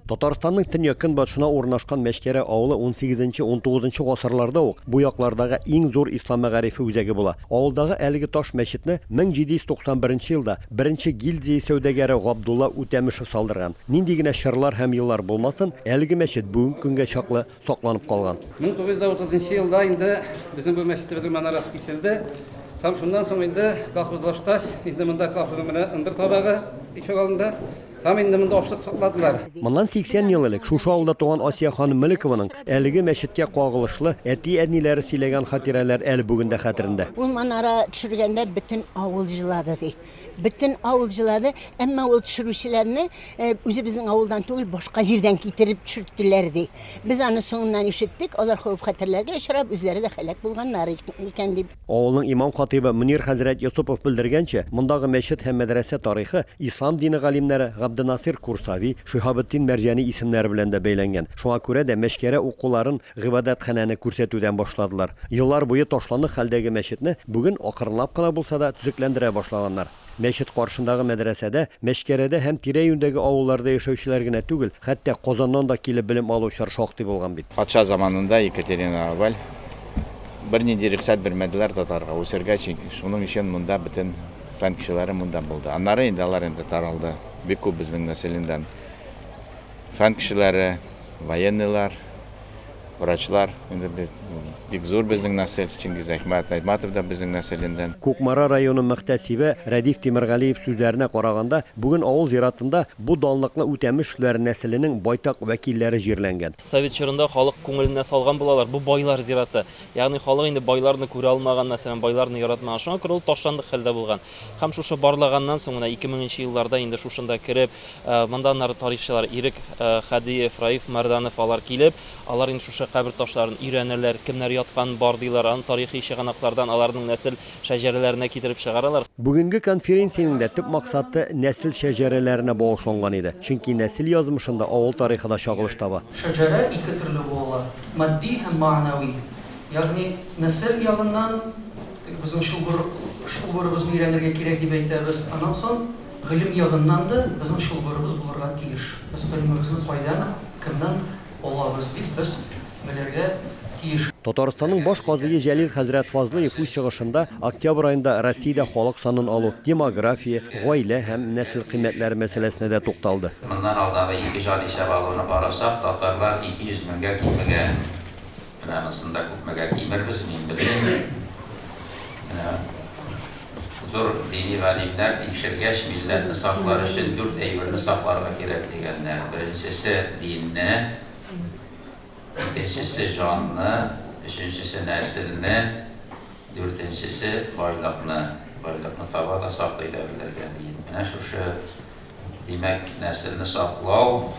Татарстанның төньяк-көнбатышына урнашкан Мәчкәрә авылы унсигезенче-унтугызынчы гасырларда ук бу яклардагы иң зур ислам мәгарифе үзәге була. Авылдагы әлеге таш мәчетне 1791 елда беренче гильдзия сәүдәгәре Габдулла Үтәмешев салдырган. Нинди генә чорлар һәм еллар булмасын, әлеге мәчет бүгенге көнгә чаклы сакланып калган. 1930 елда инде безнең бу мәчетебезнең манарасы киселде һәм шуннан соң инде колхозлашкач, инде монда колхозның менә ындыр табагы ишегалдында һәм инде монда ашлык сакладылар. Моннан 80 ел элек шушы авылда туган Асия ханым Мөлекованың әлеге мәчеткә кагылышлы әти-әниләре сөйләгән хатирәләр әле бүген дә хәтерендә. Ул манара төшергәндә бөтен авыл җылады, ди. Бөтен авыл җылады, әмма ул төшерүчеләрне э, үзебезнең авылдан түгел, башка җирдән китереп төшерттеләр, ди. Без аны соңыннан ишеттек, алар хәвеф-хәтерләргә очрап, үзләре дә һәлак булганнар икән, дип. Авылның имам-хатыйбы Мөнир хәзрәт Йосыпов белдергәнчә, мондагы мәчет һәм мәдрәсә тарихы ислам дине галимнәре Габденасир Курсави, Шиһабетдин Мәрҗани исемнәре белән дә бәйләнгән. Шуңа күрә дә Мәчкәрә укуларын Гыйбадәтханәне күрсәтүдән башладылар. Еллар буе ташландык хәлдәге мәчетне бүген акрынлап кына булса да төзекләндерә башлаганнар. Мәчет каршындагы мәдрәсәдә, Мәчкәрәдә һәм тирә-юньдәге авылларда яшәүчеләр генә түгел, хәтта Казаннан да килеп белем алучылар шактый булган бит. Патша заманында Екатерина I бернинди рөхсәт бирмәделәр татарга үсәргә, чөнки шуның өчен монда бөтен фән кешеләре монда булды. Аннары инде алар инде таралды, бик күп безнең нәселеннән Фән кешеләре, военныйлар, врачлар, инде бит бик зур безнең нәсел, Чингиз Әхмәт Айтматов да безнең нәселеннән. Кукмара районы мөхтәсибе Рәдиф Тимергалиев сүзләренә караганда, бүген авыл зиратында бу данлыклы Үтәмешләр нәселенең байтак вәкилләре җирләнгән. Совет чорында халык күңеленә салган булалар, бу байлар зираты. Ягъни халык инде байларны күрә алмаган, мәсәлән, байларны яратмаган. Шуңа күрә ул ташландык хәлдә булган. Һәм шушы барлаганнан соң, менә ике меңенче елларда инде шушында кереп, Монда аннары тарихчылар Ирек Хадиев, Раиф Мәрданов алар килеп, алар инде шушы кабер ташларын өйрәнәләр, кемнәр ятканын барлыйлар, аны тарихи чыганаклардан аларның нәсел шәҗәрәләренә китереп чыгаралар. Бүгенге конференциянең дә төп максаты нәсел шәҗәрәләренә багышланган иде, чөнки нәсел язмышында авыл тарихы да чагылыш таба. Шәҗәрә ике төрле бу ала, матди һәм мәанәви. Ягъни нәсел ягыннан, теге безнең чылбыр, чылбырыбызны өйрәнергә кирәк дип әйтәбез, аннан соң, Гыйлем ягыннан да безнең чылбырыбыз булырга тиеш. Без гыйлемебезне кайдан, кемнән алабыз дип без белергә тиеш. Татарстанның баш казые Җәлил хәзрәт Фазлыев үз чыгышында октябрь аенда Россиядә халык санын алу, демография, гаилә һәм нәсел кыйммәтләре мәсьәләсенә дә тукталды. Моннан алдагы ике җан исәп алуны карасак, татарлар 200 меңгә кимегән. Менә анысын да күпмегә кимербез, мин белмим. Менә зур дини галимнәр тикшергәч, милләтне саклар өчен дүрт әйберне сакларга кирәк дигәннәр. Беренчесе, динне, икенчесе, җанны, өченчесе, нәселне, дүртенчесе, байлыкны. Байлыкны таба да саклый да белергә, диеп. Менә шушы Димәк, нәселне саклау,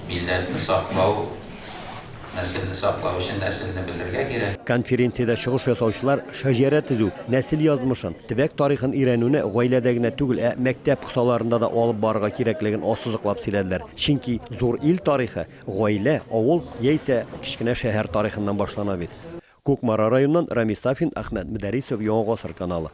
милләтне саклау, нәселне саклау өчен нәселне белергә кирәк. Конференциядә чыгыш ясаучылар шәҗәрә төзү, нәсел язмышын, төбәк тарихын өйрәнүне гаиләдә генә түгел, ә мәктәп кысаларында да алып барырга кирәклеген ассызыклап сөйләделәр. Чөнки зур ил тарихы гаилә, авыл яисә кечкенә шәһәр тарихыннан башлана бит. Кукмара районыннан Рамис Сафин, Әхмәт Мөдәрисов, Яңа гасыр каналы.